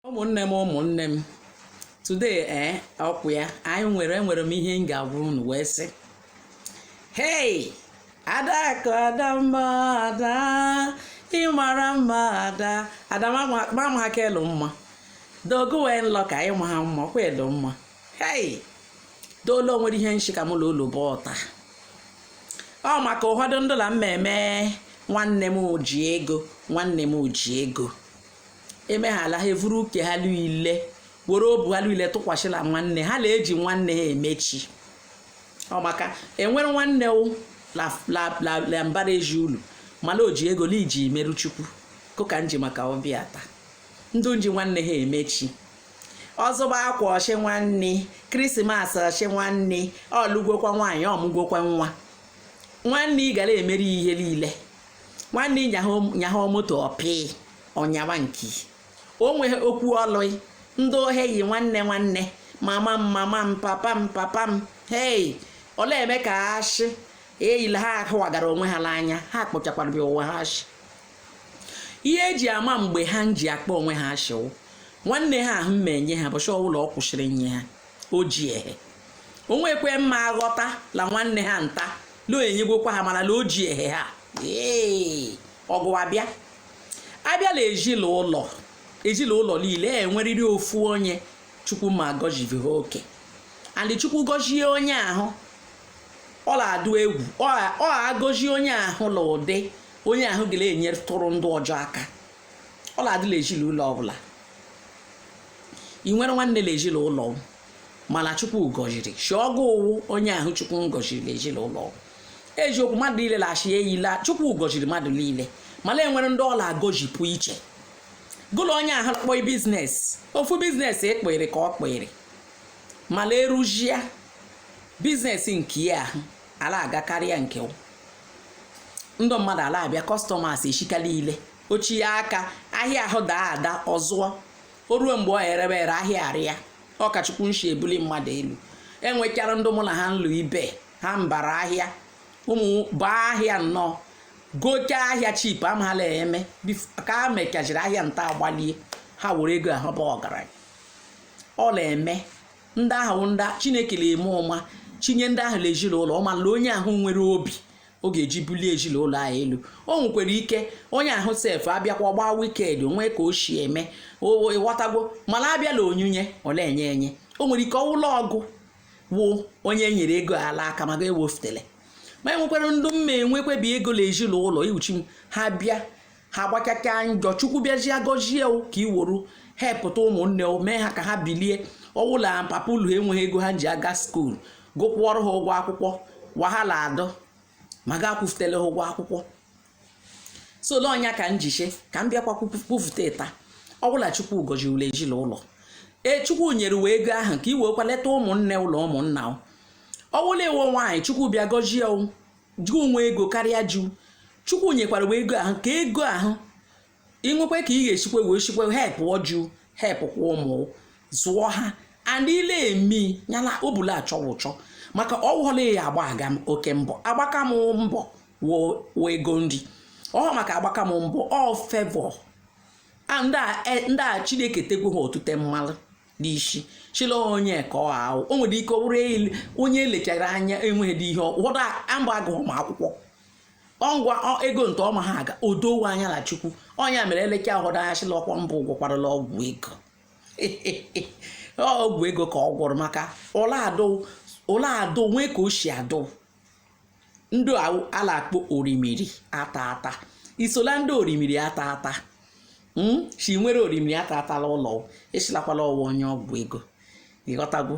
ụmụnne m ụmụnne m today ee eh, okwu a anyị nwere enwere m ihe m ga-agwa unu wee sị hey adaku adamma ada ịmara mma ada adamama aka elu mma dogo wee nlọ ka anyị ma ha mma ọkwa elu mma hey dool o nwere ihe m shi ka mụ na unu kpa taa ọ maka ụfọdụ ndụ la mmemme nwanne m ji ego nwanne m ji ego emeghala ha evuru uke ha niile were obu ha niile tụkwasị la nwanne ha na-eji nwanne ha eme chi ọ maka enwere nwanne wụ la- la- la- la mbara ezi ulu mana o ji ego la i ji merụ chukwu kụka m ji maka ọ bịa taa ndụ nji nwanne ha eme chi ọ zụba akwa ọ shị nwanne Christmas ọ shị nwanne ọ lụgwokwa nwaanyị ọ mụgwokwa nwa nwanne ị ga la-emeri ihe niile nwanne ị nyaha moto ọpị ọ nyaba nke onwe okwu ọlụ ndị ohe yi nwanne nwanne mama m mama m papa m papa m hei ọ la-eme ka a shị eyi la ha ahụwagara onwe ha n'anya ha kpọchakwara onwe ha ashị ihe eji ama mgbe ha ji akpọ onwe ha ashị wụ nwanne ha ahụ ma-enye ha ụbọchị ọbụla ọ kwụsịrị nye ha o ji ehe o nwekwe mma aghọta la nwanne ha nta lo enyegwokwa ha mana la o ji ehe ha ee ọgụ abịa abịa la ezinụlọ ezinụlọ niile enwerịrị ofu onye chukwu ma gọziviha oke and chukwu gọzie onye ahụ ọ na-adụ egwu ọ gọzie onye ahụ na ụdị onye ahụ ga na-enyetụrụ ndụ ọjọ aka ọ na-adị la ezinụlọ ọbụla ị nwere nwanne na ezinụlọ mana chukwu gọziri shị ọ gụ wụ onye ahụ chukwu ngọziri na ezinụlọ eziokwu mmadụ niile na-ashị eyi la chukwu gọziri mmadụ niile mana enwere ndị ọ la-agọjipụ iche gụ la onye ahụ kpọọ business ofu business ekpere ka ọ kpere mana eruzia business nke ya ahụ ala-aga karịa nke ndị mmadụ ala-abịa customers echika niile ochi ya aka ahịa ahụ daa ada ọ zụọ o ruo mgbe o rebe ere ahịa arịa ọ ka chukwu nshi ebuli mmadụ elu enwechara ndị mụ na ha nlụ ibe ha mbara ahịa ụmụ baa ahịa nnọọ gote ahịa cheap amala eme ka ha mechachiri ahịa nta agbalie ha were ego ahụ bụ ọgaranya ọ na-eme ndị ahụ ndị chineke na-ama ụma chinye ndị ahụ la ezinụlọ ọ ma na onye ahụ nwere obi ọ ga-eji bulie ezinụlọ ahụ elu o nwekwara ike onye ahụ sef abịakwa gbaa wicked o nwee ka o si eme ịghọtago mana abịa la onyinye ọ na-enye enye o nwere ike ọ wụ la ọ gụ wụ onye e nyere ego la aka ma ga-ewefutele ma enwekwara ndị mma enwekwebi ego la ezinụlọ iwuchi m ha bịa ha gbakaka njọ chukwu bịazie gọzie ka iwuru hepụta ụmụnne mee ha ka ha bilie ọ wụ la papa ulu enweghị ego ha ji aga skuul gụ kwụọrọ ha ụgwọ akwụkwọ wahala adụ ma ị ga-akwụfutele ha ụgwọ akwụkwọ so ọ nya ka m ji shị ka m bịakwa kwufute taa ọ wụ la chukwu gọzie ghụ la ezinụlọ ee chukwu nyere ghụ ego ahụ ka i wee kwa leta ụmụnne ụlọ ụmụnna ọ wụ la ị wụ nwaanyị chukwu bịa gọzie ghụ nwee ego karịa ji chukwu nyekwara ghụ ego ahụ ka ego ahụ i nwekwe ka ị ga-esikwe wee sikwe hepụọ ji hepụkwa ụmụ zụọ ha and ile emi nyala ọ bụ la achọwa ụchọ maka ọ wụ la ya agbaka m oke mbọ agbaka m mbọ wee ego nri ọ maka agbaka m mbọ ọ favour ndị a e, chineke tegwu ha otute mmalụ n'isi shị la onye ka ọ ahụ o nwere ike ọ bụrụ onye e lechara anya enweghị dị ihe ụfọdụ mba agụghị m akwụkwọ ọngwa ego nta ọma ha aga odowe anya na chukwu ọ nya mere elecha ụfọdụ anya sị la ọkwa mbụ gwọkwarala ọgwụ ego ọgwụ ego ka ọ gwọrọ maka ụlọ adụ ụlọ adụ nwee ka o si adụ ndị a la-akpọ orimiri ata ata i so la ndị orimiri ata ata hmm? sị i nwere orimiri ata ata la ụlọ a sịlakwa la ọ wụ onye ọgwụ ego ị ghọtagwo